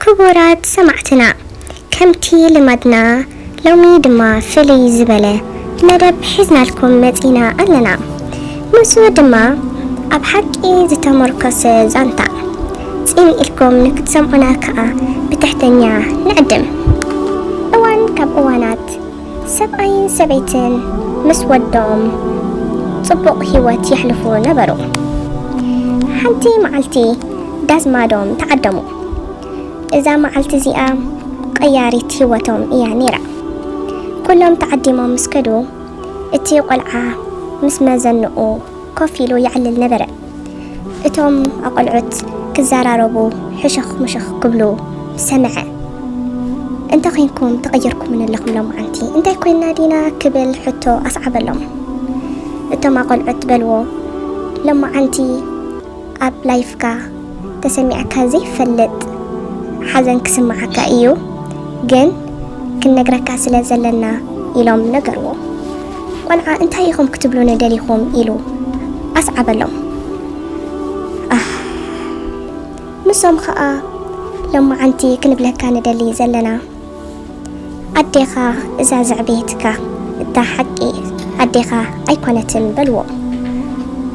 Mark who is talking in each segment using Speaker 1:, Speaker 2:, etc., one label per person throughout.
Speaker 1: ክቡራት ሰማዕትና ከምቲ ልማድና ሎሚ ድማ ፍልይ ዝበለ መደብ ሒዝናልኩም መጺና ኣለና ንሱ ድማ ኣብ ሓቂ ዝተሞርኮሰ ዛንታ ጺን ኢልኩም ንክትሰምዑና ከኣ ብትሕተኛ ንዕድም እዋን ካብ እዋናት ሰብኣይን ሰበይትን ምስ ወዶም ጽቡቕ ህይወት የሕልፉ ነበሩ። ሓንቲ መዓልቲ ዳዝማዶም ተዓደሙ። እዛ መዓልቲ እዚኣ ቐያሪት ህይወቶም እያ ነይራ። ኩሎም ተዓዲሞም ምስ ከዱ እቲ ቖልዓ ምስ መዘንኡ ኮፍ ኢሉ የዕልል ነበረ። እቶም ኣቆልዑት ክዘራረቡ ሕሽኽ ምሽኽ ክብሉ ሰምዐ። እንተ ኼንኩም ተቐይርኩምኒ ኣለኹም ሎመዓንቲ እንታይ ኮይንና ዲና ክብል ሕቶ ኣስዓበሎም። እቶም ኣቆልዑት በልዎ ሎመዓንቲ ኣብ ላይፍካ ተሰሚዕካ ዘይፈልጥ ሓዘን ክስምዓካ ኢዩ ግን ክንነግረካ ስለ ዘለና ኢሎም ነገርዎ። ቆልዓ እንታይ ኢኹም ክትብሉኒ ደሊኹም ኢሉ ኣስዓበሎም። ኣህ ንሶም ኸኣ ሎማዓንቲ ክንብለካ ንደሊ ዘለና ኣዴኻ እዛ ዘዕበየትካ እታ ሓቂ ኣዴኻ ኣይኮነትን በልዎ።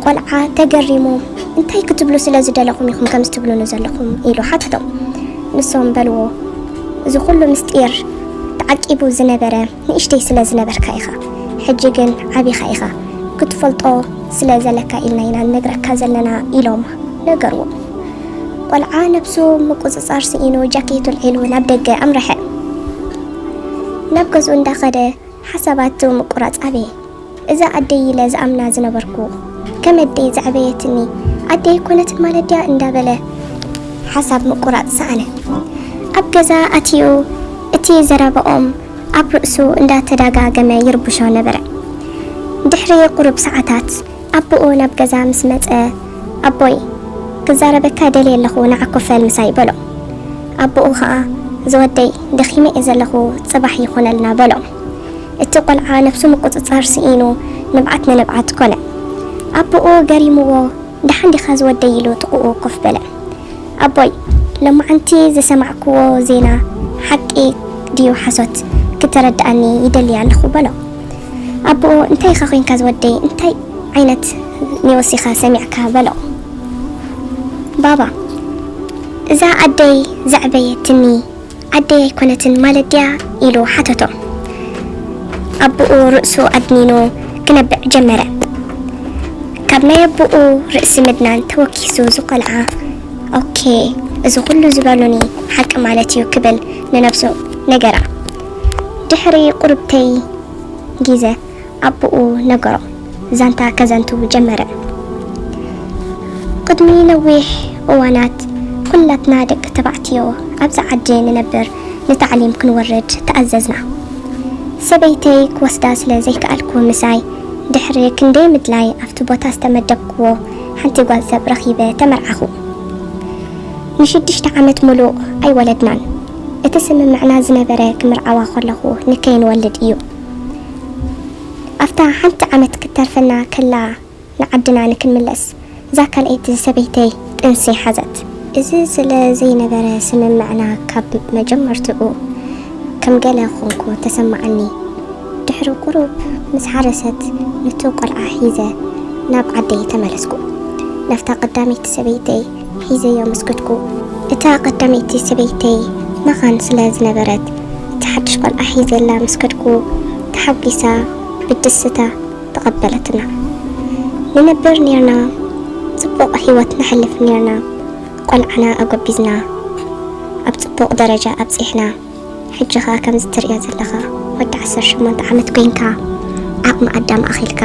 Speaker 1: ቆልዓ ተገሪሙ እንታይ ክትብሉ ስለ ዝደለኹም ኢኹም ከምዚ ትብሉኒ ዘለኹም ኢሉ ሓተቶም። ንሶም በልዎ እዚ ኩሉ ምስጢር ተዓቂቡ ዝነበረ ንእሽተይ ስለ ዝነበርካ ኢኻ ሕጂ ግን ዓቢኻ ኢኻ ክትፈልጦ ስለ ዘለካ ኢልና ኢና ንነግረካ ዘለና ኢሎም ነገርዎ። ቆልዓ ነብሱ ምቁጽጻር ስኢኑ ጃኬቱ ኣልዒሉ ናብ ደገ ኣምረሐ። ናብ ገዝኡ እንዳኸደ ሓሳባት ምቁራጽ ኣበየ። እዛ ኣደይ ኢለ ዝኣምና ዝነበርኩ ከም ኣደይ ዘዕበየትኒ ኣደይ ኣይኮነትን ማለት ድያ እንዳበለ ሓሳብ ምቁራጽ ሰኣነ። ኣብ ገዛ ኣትዩ እቲ ዘረባኦም ኣብ ርእሱ እንዳተዳጋገመ ይርብሾ ነበረ። ድሕሪ ቁሩብ ሰዓታት ኣቡኡ ናብ ገዛ ምስ መጸ ኣቦይ ክዛረበካ ደልየ ኣለኹ ንዓ ኮፈል ምሳይ በሎ። ኣቡኡ ከኣ ዝወደይ ደኺመ እየ ዘለኹ ጽባሕ ይኹነልና በሎ። እቲ ቈልዓ ነብሱ ምቍጽጻር ስኢኑ ንብዓት ንንብዓት ኰነ። ኣቦኡ ገሪሙዎ፣ ደሓን ዲኻ ዝወደይ? ኢሉ ጥቕኡ ኮፍ በለ። ኣቦይ፣ ሎማዕንቲ ዝሰማዕኩዎ ዜና ሓቂ ድዩ ሓሶት ክትረድኣኒ ይደሊ ኣለኹ፣ በሎ። ኣቦኡ፣ እንታይ ኢኻ ዄንካ ዝወደይ? እንታይ ዓይነት ኒውስ ኢኻ ሰሚዕካ? በሎ። ባባ፣ እዛ ኣደይ ዘዕበየትኒ ዓደይ ኣይኮነትን ማለት ድያ? ኢሉ ሓተቶ። ኣቦኡ ርእሱ ኣድኒኑ ክነብዕ ጀመረ። ካብ ናይ ኣቦኡ ርእሲ ምድናን ተወኪሱ እዚ ቆልዓ ኦኬ እዚ ኩሉ ዝበሉኒ ሓቂ ማለት እዩ ክብል ንነብሱ ነገራ። ድሕሪ ቁርብተይ ጊዘ። ኣቦኡ ነገሮ ዛንታ ከዘንቱ ጀመረ። ቅድሚ ነዊሕ እዋናት ኩላትና ደቂ ተባዕትዮ ኣብዛ ዓዲ ንነብር ንታዕሊም ክንወርድ ተኣዘዝና። ሰበይተይ ክወስዳ ስለ ዘይከኣልኩ ምሳይ ድሕሪ ክንደይ ምድላይ ኣብቲ ቦታ ዝተመደብኩዎ ሓንቲ ጓል ሰብ ረኺበ ተመርዓኹ። ንሽዱሽተ ዓመት ሙሉእ ኣይወለድናን። እቲ ስምምዕና ዝነበረ ክምርዓዋ ከለኹ ንከይንወልድ እዩ። ኣፍታ ሓንቲ ዓመት ክትተርፈና ከላ ንዓድና ንክንምለስ እዛ ካልኣይቲ ሰበይተይ ጥንሲ ሓዘት። እዚ ስለ ዘይነበረ ስምምዕና ካብ መጀመርትኡ ከም ገለ ኮንኩ ተሰማዓኒ። ድሕሪ ቁሩብ ምስ ሓረሰት ኑቲ ቆልዓ ሒዘ ናብ ዓደይ ተመለስኩ። ናፍታ ቀዳመይቲ ሰበይተይ ሒዘዮ ምስ ከድኩ፣ እታ ቀዳመይቲ ሰበይተይ መኻን ስለ ዝነበረት፣ እቲ ሓድሽ ቈልዓ ሒዘላ ምስ ከድኩ፣ ተሓጒሳ ብድስታ ተቐበለትና። ንነብር ኔርና፣ ጽቡቕ ህይወት ነሕልፍ ኔርና፣ ቈልዓና ኣጐቢዝና ኣብ ጽቡቕ ደረጃ ኣብጺሕና። ሕጂ ከኣ ከምዚ ትርእዮ ዘለኻ ወዲ ዓሰርተ ሸሞንተ ዓመት ኮይንካ ዓቕሚ ኣዳም ኣኺልካ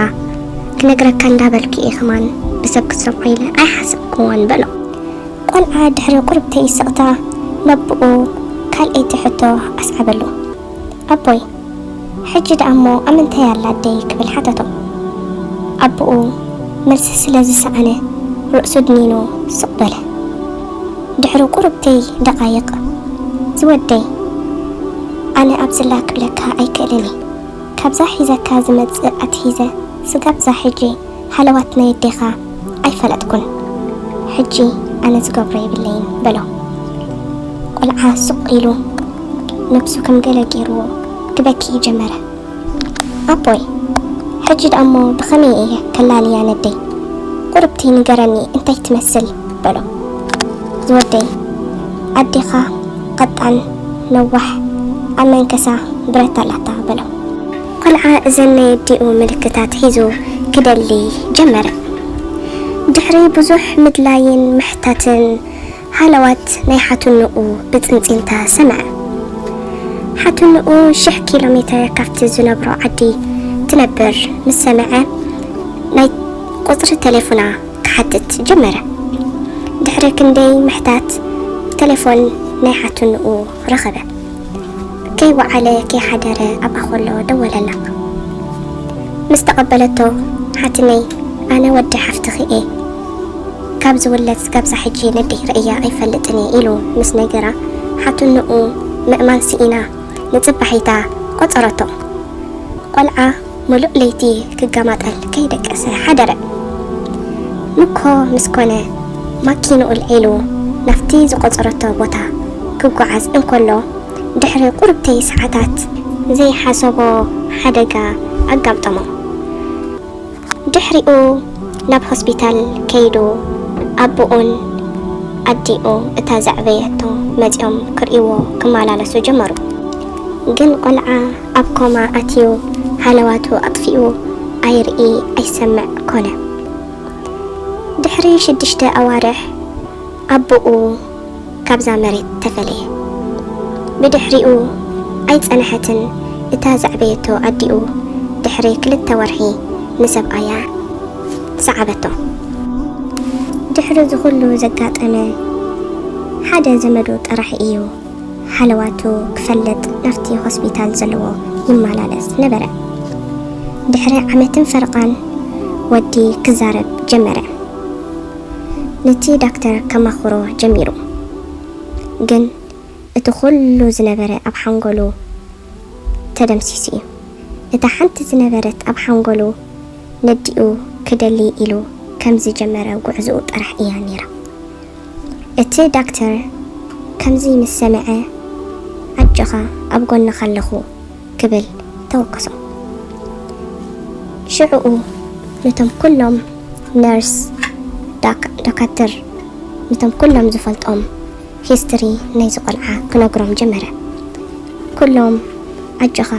Speaker 1: ክነግረካ እንዳበልኩ እየ ከማን ብሰብ ክትሰምዖ ኢለ ኣይሓሰብኩዎን በሎ። ቆልዓ ድሕሪ ቁሩብ ተይ ስቕታ ነቡኡ ካልኣይቲ ሕቶ ኣስዓበሉ ኣቦይ! ሕጂ ደኣ'ሞ ኣብ ምንታይ ኣላ ኣደይ? ክብል ሓተቶ። ኣቦኡ መልሲ ስለ ዝሰኣነ ርእሱ ድኒኑ ስቕ በለ። ድሕሪ ቁሩብተይ ደቓይቕ፣ ዝወደይ፣ ኣነ ኣብ ዝላ ክብለካ ኣይክእልን እየ። ካብዛ ሒዘካ ዝመጽእ ኣትሒዘ ስጋብ'ዛ ሕጂ ሃለዋት ናይ ኣዴኻ ኣይፈለጥኩን፣ ሕጂ ኣነ ዝገብሮ የብለይን በሎ። ቈልዓ ሱቕ ኢሉ ነብሱ ከም ገለ ገይሩዎ ክበኪ ጀመረ። ኣቦይ! ሕጂ ደኣ'ሞ ብኸመይ እየ ከላልያ ነደይ? ቁርብቲ ንገረኒ እንታይ ትመስል? በሎ። ዝወደይ! ኣዴኻ ቐጣን፣ ነዋሕ፣ ኣብ መንከሳ ብረት ኣላታ በሎ። ቆልዓ እዘን ናይ ኣዲኡ ምልክታት ሒዙ ክደሊ ጀመረ። ድሕሪ ብዙሕ ምድላይን ምሕታትን ሃለዋት ናይ ሓትንኡ ብጽንጺንታ ሰምዐ። ሓትንኡ ሽሕ ኪሎ ሜተር ካብቲ ዝነብሮ ዓዲ ትነብር ምስ ሰምዐ ናይ ቁጽሪ ተሌፉና ክሓትት ጀመረ። ድሕሪ ክንደይ ምሕታት ተሌፎን ናይ ሓትንኡ ረኸበ። ከይወዓለ ከይሓደረ ኣብኣ ከሎ ደወለላ። ምስ ተቐበለቶ ሓትነይ ኣነ ወዲ ሓፍትኺ እየ ካብ ዝውለድ ስጋብዛ ሕጂ ነደይ ረእያ ኣይፈልጥን እየ ኢሉ ምስ ነገራ ሓትንኡ ምእማን ስኢና ንጽባሒታ ቆጸረቶ። ቆልዓ ምሉእ ለይቲ ክገማጠል ከይደቀሰ ሓደረ። ምኮ ምስ ኮነ ማኪንኡ ኣልዒሉ ናብቲ ዝቖጸረቶ ቦታ ክጓዓዝ እንከሎ፣ ድሕሪ ቁርብተይ ሰዓታት ዘይሓሰቦ ሓደጋ ኣጋምጠሞ። ድሕሪኡ ናብ ሆስፒታል ከይዱ ኣቡኡን ኣዲኡ እታ ዘዕበየቶ መጺኦም ክርእይዎ ክመላለሱ ጀመሩ። ግን ቆልዓ ኣብ ኮማ ኣትዩ ሃለዋቱ ኣጥፊኡ ኣይርኢ ኣይሰምዕ ኮነ። ድሕሪ ሽዱሽተ ኣዋርሕ ኣቡኡ ካብዛ መሬት ተፈለየ። ብድሕሪኡ ኣይጸነሐትን እታ ዘዕበየቶ ኣዲኡ ድሕሪ ክልተ ወርሒ ንሰብኣያ ሰዓበቶ። ድሕሪ እዚ ኩሉ ዘጋጠመ ሓደ ዘመዱ ጥራሕ ኢዩ። ሃለዋቱ ክፈልጥ ናብቲ ሆስፒታል ዘለዎ ይመላለስ ነበረ። ድሕሪ ዓመትን ፈረቓን ወዲ ክዛረብ ጀመረ። ነቲ ዳክተር ከማኽሮ ጀሚሩ። ግን እቲ ኩሉ ዝነበረ ኣብ ሓንጎሉ ተደምሲሱ እዩ። እታ ሓንቲ ዝነበረት ኣብ ሓንጎሉ ነዲኡ ክደሊ ኢሉ ከም ዝጀመረ ጉዕዝኡ ጥራሕ እያ ነይራ። እቲ ዳክተር ከምዚ ምስ ሰምዐ ኣጆኻ ኣብ ጎንኻ ኣለኹ ክብል ተወከሶ። ሽዕኡ ነቶም ኩሎም ነርስ፣ ዳክ፣ ዶካትር፣ ነቶም ኩሎም ዝፈልጦም፣ ሂስትሪ ናይዚ ቆልዓ ክነግሮም ጀመረ። ኩሎም ኣጆኻ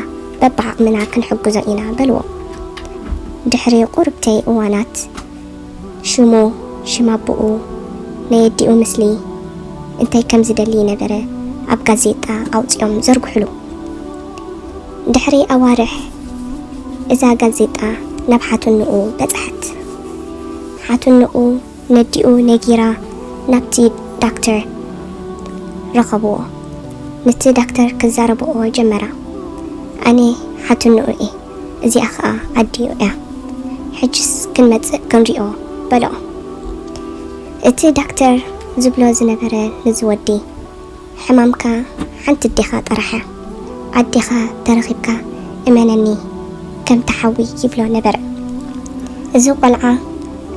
Speaker 1: በብዓቕምና ክንሕግዞ ኢና በልዎ። ድሕሪ ቁርብተይ እዋናት ሽሙ፣ ሽም ኣቡኡ፣ ናይ ኣዲኡ ምስሊ፣ እንታይ ከም ዝደሊ ነበረ ኣብ ጋዜጣ ኣውጺኦም ዘርግሑሉ። ድሕሪ ኣዋርሕ እዛ ጋዜጣ ናብ ሓትንኡ በጽሐት። ሓትንኡ ነዲኡ ነጊራ ናብቲ ዳክተር ረኸብዎ ንቲ ዳክተር ክዛረብኦ ጀመራ ኣነ ሓትንኡ እየ እዚኣ ከኣ ኣዲኡ እያ ሕጅስ ክንመጽእ ክንሪኦ በልኦ እቲ ዳክተር ዝብሎ ዝነበረ ንዚ ወዲ ሕማምካ ሓንቲ ኣዴኻ ጥራሕ እያ ኣዴኻ ተረኺብካ እመነኒ ከምቲ ሓዊ ይብሎ ነበረ እዚ ቆልዓ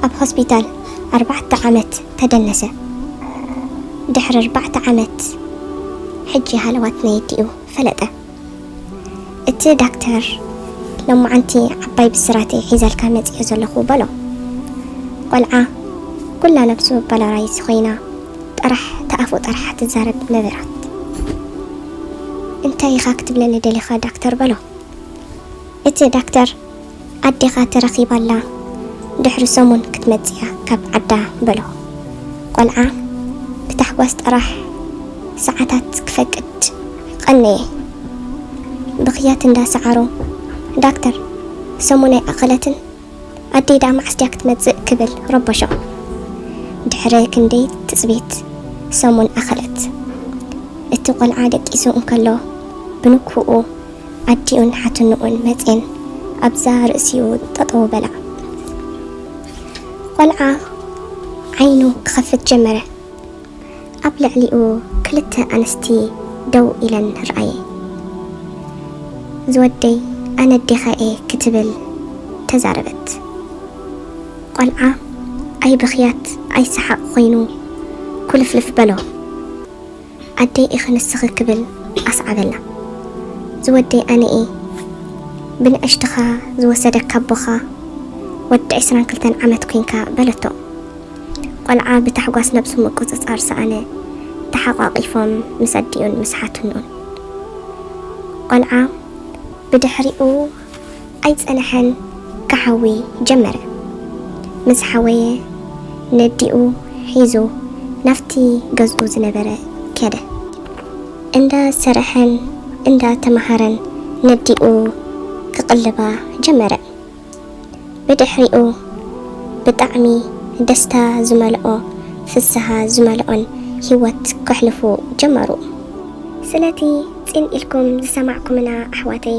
Speaker 1: ኣብ ሆስፒታል ኣርባዕተ ዓመት ተደነሰ ድሕሪ ኣርባዕተ ዓመት ሕጂ ሃለዋት ነየዲኡ ፈለጠ። እቲ ዳክተር ሎማዓንቲ ዓባይ ብስራት'የ ሒዘልካ መጺኤ ዘለኹ በሎ። ቆልዓ ኩላ ነብሱ ባላራይዝ ኮይና ጥራሕ ተኣፉ ጠርሓ ትዛረብ ነበረት። እንታይ ኢኻ ክትብለኒ ደሊኻ ዳክተር በሎ። እቲ ዳክተር ኣዴኻ ተረኺባ ኣላ ድሕሪ ሰሙን ክትመጽእያ ካብ ዓዳ በሎ ቆልዓ ብታሕጓስ ጥራሕ ሰዓታት ክፈቅድ ቐነየ ብኽያት እንዳ ሰዓሮ ዳክተር ሰሙን ኣይኣኸለትን ኣደይ ድኣ መዓስ ድያ ክትመጽእ ክብል ረበሾ ድሕሪ ክንደይ ትጽቢት ሰሙን ኣኸለት እቲ ቆልዓ ደቂሱ እንከሎ ብንኩኡ ኣዲኡን ሓትንኡን መጼን ኣብዛ ርእሲኡ ጠጠዉ በላ። ቆልዓ ዓይኑ ክኸፍት ጀመረ። ኣብ ልዕሊኡ ክልተ ኣንስቲ ደው ኢለን ረኣየ። ዝወደይ ኣነ ኣዴኻ'የ ክትብል ተዛረበት። ቆልዓ ኣይ ብኽያት ኣይ ሰሓቕ ኾይኑ ኩልፍልፍ በሎ። ኣደይ ኢኺ ንስኺ ክብል ኣስዓበላ። ዝወደይ ኣነ እየ። ብንእሽትኻ ዝወሰደካ ኣቦኻ ወዲ ዕስራን ክልተን ዓመት ኲንካ በለቶ። ቖልዓ ብታሕጓስ ነብሱ ምቁጽጻር ሰኣነ። ተሓቛቒፎም ምስ ኣዲኡን ምስ ሓትንኡን። ቖልዓ ብድሕሪኡ። ኣይጸነሐን ክሓዊ ጀመረ። ምስ ሓወየ ነዲኡ ሒዙ ናብቲ ገዝኡ ዝነበረ ከደ። እንዳ ሰርሐን እንዳ ተመሃረን ነዲኡ ክቕልባ ጀመረ። ብድሕሪኡ ብጣዕሚ ደስታ ዝመልኦ ፍስሃ ዝመልኦን ሂወት ከሕልፉ ጀመሩ። ስለቲ ጽን ኢልኩም ዝሰማዕኩምና ኣሕዋተይ